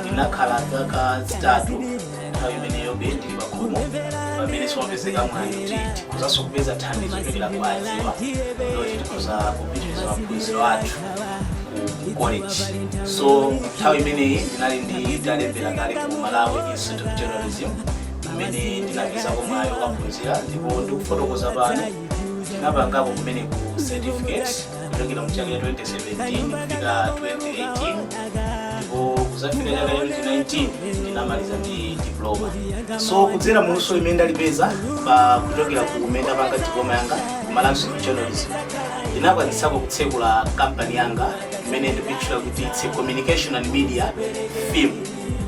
ndinakhala zaka zitatu nthawi imeneyobe ndili pakhomo pamene simapezeka mwayi kuti tikuzanso kupeza thandizo kuchokera kwa achibale zoti tikuza kupitiriza maphunziro athu ku college so nthawi imeneyi ndinali nditalembera kale ku malawi institute of journalism kumene ndinapezako mwayi wokaphunzira ndipo ndikufotokoza pano ndinapangapo kumeneko certificate kuchokera mu chaka cha 2017 kupita 2018 ndipo kuzafikira chaka cha 2019 ndinamaliza ndi diploma so kudzera mu luso imene ndalipeza pa kuchokera ku kumene ndapanga diploma yanga ku Malawi Institute of Journalism ndinakwanitsako kutsekula kampani yanga imene ndimaitchula kuti its a communication and media firm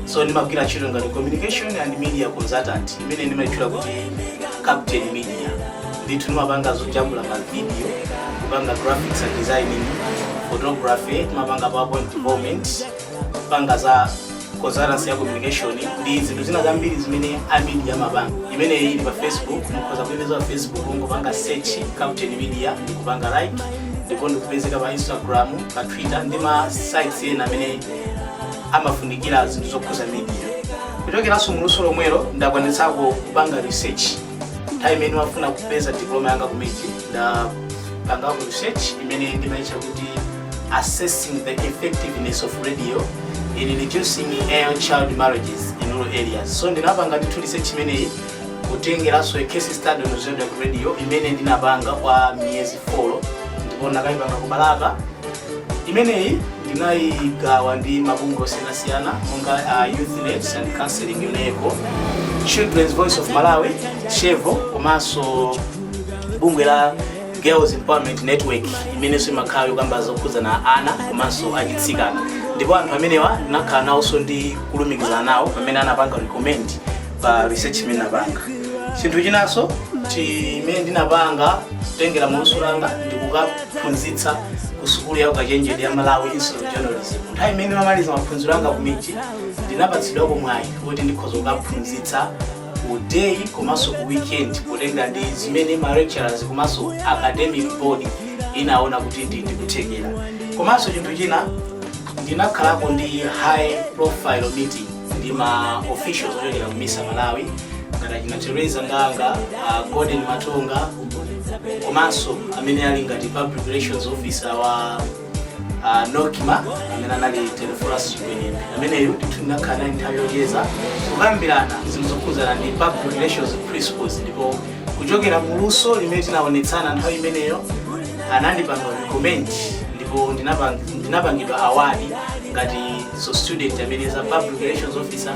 so ndimagwira ntchito ngati communication and media consultant imene ndimaitchula kuti captain media ndithu ndimapanga zojambula ma video kupanga graphics and designing photography timapanga powerpoint development kupanga za consultancy ya communication ndi zinthu zina zambiri zimene a media amapanga imeneyi ili pa facebook mukhoza kuipeza pa facebook kungopanga search captain media ndikupanga like ndipo ndikupezeka pa instagram pa twitter ndi ma sites ena amene amafunikira zinthu zokhuza media kuchokeranso muluso lomwelo ndakwanitsako kupanga research nthawi imene ndimafuna kupeza diploma yanga ku mij ndapangako research imene ndimaitcha kuti assessing the effectiveness of radio in reducing early child marriages in rural areas so ndinapanga ndithu research imeneyi kutengeranso a case study on zodiak radio imene ndinapanga kwa miyezi 4 ndipo ndakaipanga ku balaka imeneyi ndinayigawa ndi mabungwe osiyanasiyana monga a youth net and counseling yoneco children's voice of malawi chevo komanso bungwe la girls empowerment network imenenso imakhala yokamba zokhudzana ana komanso atsikana ndipo anthu amenewa ndinakhala nawonso ndi kulumikizana nawo pamene anapanga recommend pa research imene ndinapanga chinthu chinanso chimene ndinapanga kutengera muluso langa ndikuka phunzitsa ku sukulu ya ukachenjede ya malawi institute of journalism nthawi imene ndimamaliza maphunziro anga ku mij ndinapatsidwako mwayi kuti ndikhoza kukaphunzitsa ku day komanso ku weekend potengera ndi zimene ma lecturers komanso academic board inaona kuti ndili ndi kuthekera komanso chinthu china ndinakhalako ndi high profile meeting ndi ma officials ochokera ku misa malawi ngati achina teresa ndanga uh, golden matonga komanso amene ali ngati public relations officer wa uh, nocma amene anali telephorus chigwenembe ameneyo ndithu ndinakhala naye nthawi yocheza kukambirana zinthu zokhudzana ndi public relations principles ndipo kuchokera mu luso limene tinaonetsana nthawi imeneyo anandipanga comment ndipo ndinapang- ndinapangidwa award ngati so student amene za public relations officer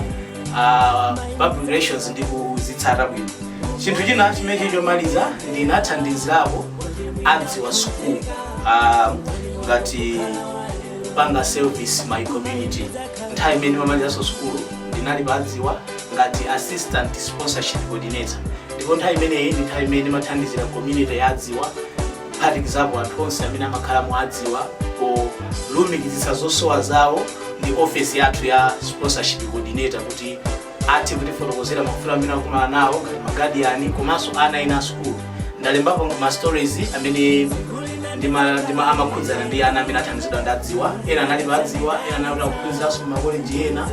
uh, public relations ndi ndikuzitsata bwino chinthu china chimechi chomaliza ndinathandizirapo adziwa school uh, ngati kupanga service my community nthawi imene ndimamalizanso sukulu ndinali pa adziwa ngati assistant sponsorship coordinator ndipo nthawi imeneyi ndi nthawi imene ndimathandizira community ya adziwa kuphatikizapo anthu onse amene amakhala mu adziwa polumikizitsa zosowa zawo ndi ofesi yathu ya sponsorship coordinator kuti athe kutifotokozera mavuto amene akumana nawo ngati magadiyani komanso ana ena asukulu ndalembapo ma stories amene ndima- ndima- amakhudzana ndi ana amene athandizidwa ndi adziwa ena anali pa adziwa ena anali akuphunziranso ku makoleji ena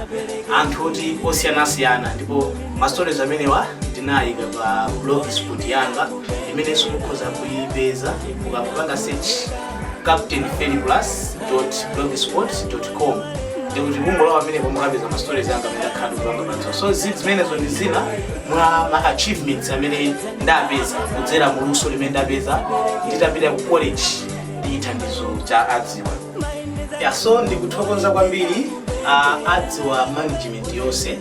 anthu oti osiyanasiyana ndipo ma stories amenewa ndinayika pa blog spot yanga imenenso mukhoza kuipeza mukapanga search captain fplus blogspot com ndipo mukangolowa pamenepo mukapeza ma stories anga amene ndakhala ndikupanga pano so zi- zimenezo ndi zina mwa ma achievements amene ndapeza kudzera mu luso limene ndapeza nditapita ku college ndi thandizo cha adziwa ya so ndikuthokoza kwambiri uh, adziwa management yonse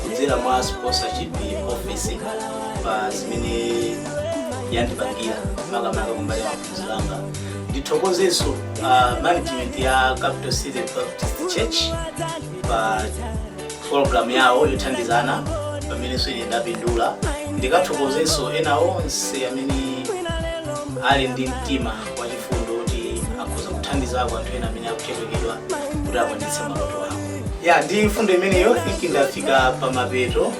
kudzera mwa sponsorship office pa zimene yandipangira makamaka kumbali ya maphunziro anga ndithokozenso uh, management ya capital city baptist church pa program yawo yothandiza ana imenenso ine ndapindula ndithokozenso ena onse amene ali ndi mtima wachifundo kuti akhoza kuthandizako anthu ena amene akuchepekeredwa kuti akwanitse maloto awo ya ndi mfundo imeneyo ine ndafika pa mapeto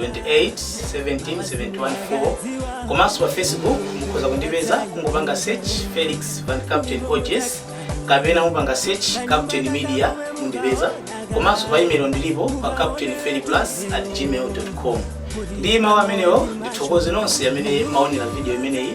2871714 komanso pa facebook mukhoza kundipeza kungopanga search felix van captain ogs kapena kupanga search captain media mundipeza komanso pa email ndilipo pa captain fplus at gmail com ndi mawu amenewo ndithokoze nonse amene mwaonera video imeneyi